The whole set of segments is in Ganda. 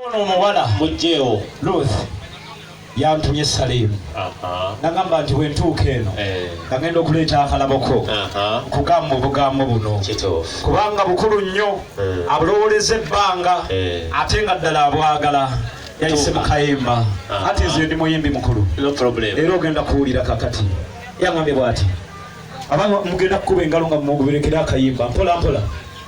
Ono omuwala mujjeewo Ruth yantumye Salimu nagamba nti bwentuuka eno eh. nagenda okuleeta akalaboko nkugamba obugambo buno kubanga bukulu nnyo eh. abulowoleza ebbanga eh. ate nga ddala abwagala yayise mukayimba ati nze ndi muyimbi mukulu era ogenda kuwulira kakati yangambye bwati aba mugenda kukuba engalo nga mumuguberekera akayimba mpola mpola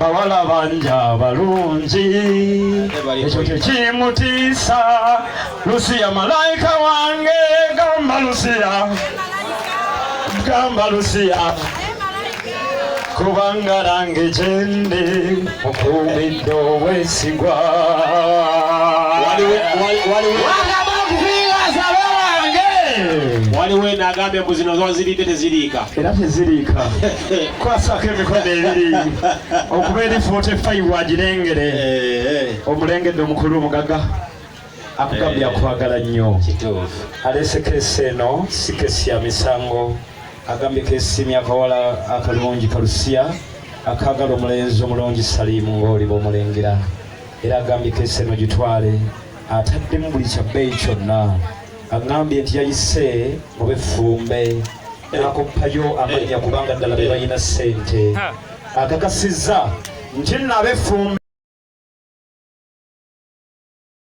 bawala banja abalungi ekyo kyekimutiisa lusiya malayika wange gamba lusiya gamba lusiya kubanga nange gyendi mukuumidde obwesigwa waliwo enagambye mbu zino zoziriidde teziriika era teziriika kwasako emikono ebiri okuba eri 45 agirengere omulengedde omukulu omugaga akugambye akwagala nnyo alese kesi eno si kesi ya misango agambye kesimya akawala akalungi kalusiya akagala omulenzi omulungi saliimu ng'oliba omulengera era agambye kesi eno gitwale ataddemu buli kya bbeeyi kyonna aŋŋambye nti yayise mu beffumbe n'akoppayo amannya kubanga ddala be balina ssente akakasizza nti nno abeffumbe